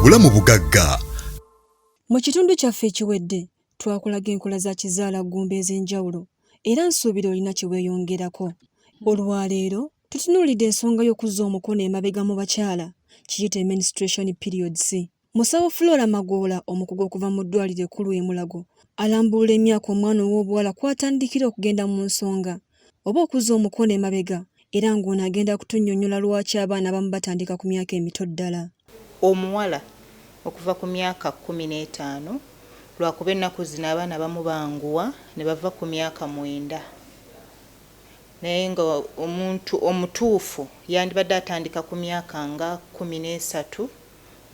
obulamu bugagga mu kitundu kyaffe ekiwedde twakulaga enkola za kizaala ggumba ez'enjawulo era nsuubira olina kye weeyongerako olwaleero tutunuulidde ensonga y'okuzza omukono emabega mu bakyala kiyite menstruation periods Musawo Flora Magoola omukugu okuva mu ddwaaliro ekkulu e Mulago alambulula emyaka omwana ow'obuwala kw'atandikira okugenda mu nsonga oba okuzza omukono emabega era ng'ono agenda kutunnyonnyola lwaki abaana abamu batandika ku myaka emito ddala. Omuwala okuva ku myaka kkumi n'etaano lwakuba ennaku zino abaana abamu banguwa ne bava ku myaka mwenda naye ng'omuntu omutuufu yandibadde atandika ku myaka nga kkumi n'esatu.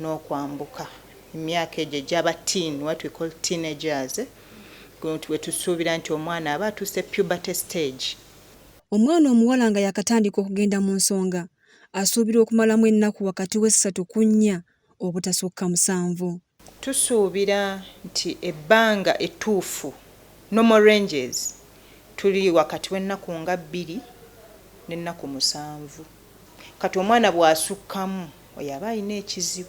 n'okwambuka emyaka egyo egy'aba teen, what we call teenagers, we tusuubira nti omwana aba atuuse puberty stage. Omwana omuwala nga yakatandika okugenda mu nsonga asuubirwa okumalamu ennaku wakati w'essatu ku nnya obutasukka musanvu. Tusuubira nti ebbanga ettuufu, normal ranges, tuli wakati w'ennaku nga bbiri n'ennaku musanvu. Kati omwana bw'asukkamu. Oyo aba alina ekizibu.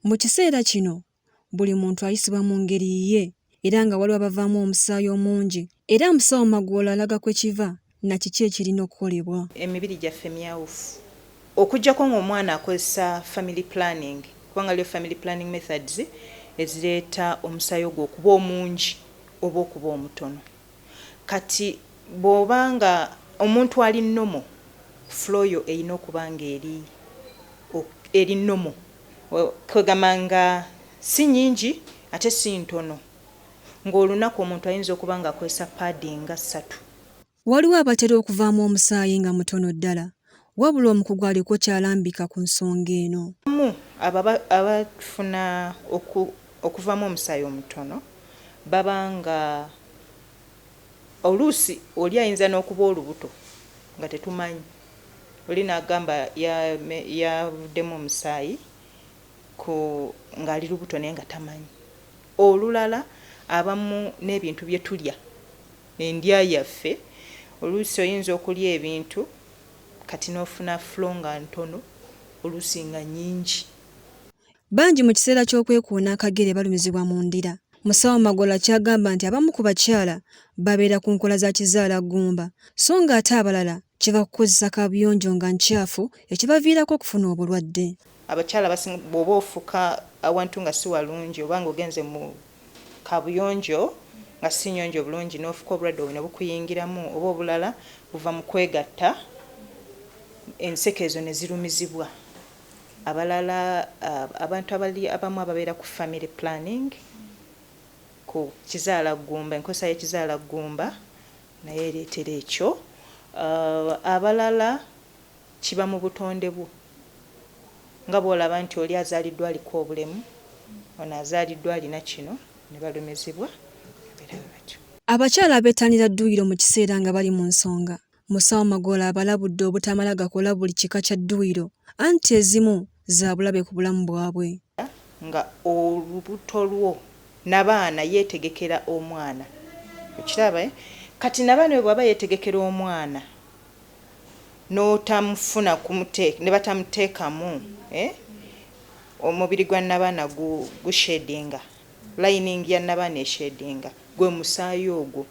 Mu kiseera kino buli muntu ayisibwa mu ngeri yiye era nga waliwo abavaamu omusaayi omungi era musawo Magoola alaga kwe kiva na kiki ekirina okukolebwa. Emibiri gyaffe myawufu okujjako nga omwana akozesa family planning kubanga waliyo family planning methods ezireeta omusaayi ogwo okuba omungi oba okuba omutono. Kati bwoba nga omuntu ali normal flow yo eyina okuba nga eri ok eri normal kwegamba nga si nyingi ate si ntono nga olunaku omuntu ayinza okuba nga akozesa pad nga satu. Waliwo abatera okuvaamu omusaayi nga mutono ddala Wabula omukugu aliko ky'alambika ku nsonga eno. Abamu abo abafuna okuvaamu omusaayi omutono baba nga oluusi oli ayinza n'okuba olubuto nga tetumanyi, oli n'agamba yavuddemu omusaayi ng'ali lubuto naye nga tamanyi. Olulala abamu n'ebintu bye tulya. endya yaffe oluusi oyinza okulya ebintu kati n'ofuna flo nga ntono oluusi nga nyingi. Bangi mu kiseera ky'okwekuuna akagere balumizibwa mu ndira. Musawo Magoola ky'agamba nti abamu ku bakyala babeera ku nkola za kizaalaggumba so ng'ate abalala kiva ku kuzza kaabuyonjo nga ncaafu ekibaviirako okufuna obulwadde. Abakyala abasinga bw'oba ofuka awantu nga si walungi oba ng'ogenze mu kaabuyonjo nga si nnyonjo bulungi n'ofuka obulwadde obwo ne bukuyingiramu oba obulala buva mu kwegatta enseke ezo ne zirumizibwa abalala abantu abali abamu ababeera ku family planning ku kizaala ggumba enkozesa y'ekizaala ggumba naye ereetera ekyo abalala kiba mu butonde bwo nga bw'olaba nti oli azaaliddwa aliko obulemu, ono azaaliddwa alina kino ne balumizibwa abeera bwe batyo. Abakyala abetanira dduyiro mu kiseera nga bali mu nsonga, Musawo Magoola abalabudde obutamala gakola buli kika kya dduyiro anti ezimu za bulabe ku bulamu bwabwe. Nga olubuto lwo nabaana yetegekera omwana okiraba eh kati nabaana oyo bwaba yetegekera omwana notamufuna kumuteeka nebatamutekamu eh omubiri gwa nabaana gu shedinga lining ya nabaana eshedinga gwe musaayi ogwo.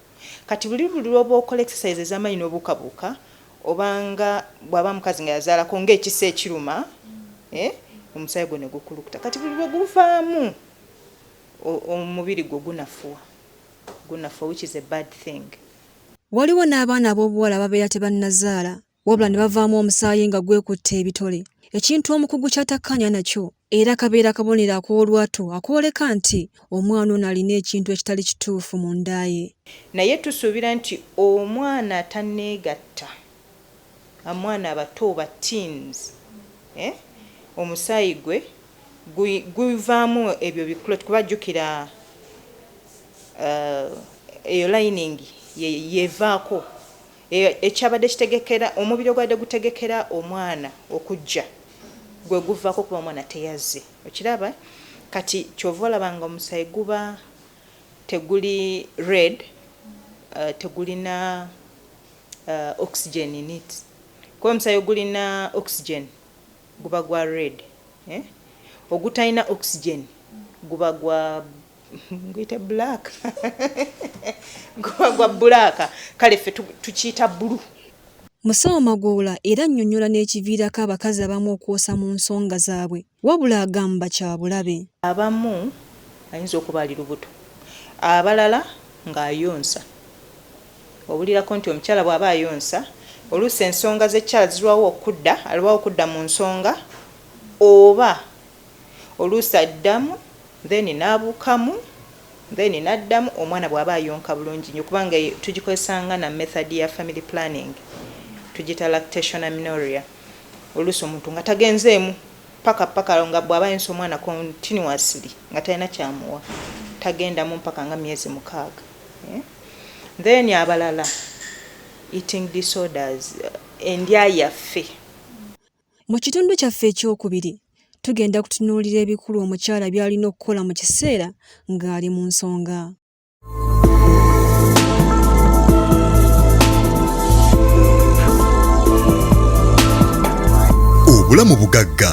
Kati buli buli lwoba okola exercise ezamanyi nobuuka buuka oba nga bwaba mukazi nga yazalako nga ekisa ekiruma eh omusayi gwo negukulukuta kati buli lweguvaamu omubiri gwo gunafuwa gunafuwa which is a bad thing. Waliwo n'abaana ab'obuwala ababeera tebannazaala wabula ne bavaamu omusaayi nga gwekutte ebitole ekintu omukugu ky'atakkaanya nakyo era kabeera kabonero ak'olwatu akwoleka nti omwana ono alina ekintu ekitali kituufu mu nda ye. Naye tusuubira nti omwana atanneegatta, amwana abato oba teens, eh, omusaayi gwe guvaamu ebyo bi clot kuba jjukira eh, eyo lining ye yevaako. Ekyabadde kitegekera, omubiri ogwabadde gutegekera omwana okujja gwe guvaako kuba omwana teyazze. Okiraba? Kati ky'ova olaba nga omusaayi guba teguli red, uh, tegulina uh, oxygen in it. Kuba omusaayi ogulina oxygen guba gwa red, eh? ogutalina oxygen guba gwa guyite black guba gwa bulaaka kale ffe tukiyita bulu musawo magoola era annyonnyola n'ekiviirako abakazi abamu okwosa mu nsonga zaabwe wabula agamba kyabulabe abamu ayinza okuba ali lubuto abalala ng'ayonsa obulirako nti omukyala bw'aba ayonsa oluusi ensonga z'ekyala zirwawo okudda alwawo okudda mu nsonga oba oluusi addamu then nabukamu then naddamu omwana bwaba ayonka bulungi nyo kubanga tugikozesa nga na method ya family planning tugita lactation aminoria oluusi omuntu nga tagenzeemu paka paka nga bwaba ayonsa omwana continuously nga talina kyamuwa tagendamu mpaka nga myezi mukaaga eh? then abalala eating disorders endya yaffe Mu kitundu kyaffe ekyokubiri, tugenda kutunuulira ebikulu omukyala by'alina okukola mu kiseera ng'ali mu nsonga. Obulamu bugagga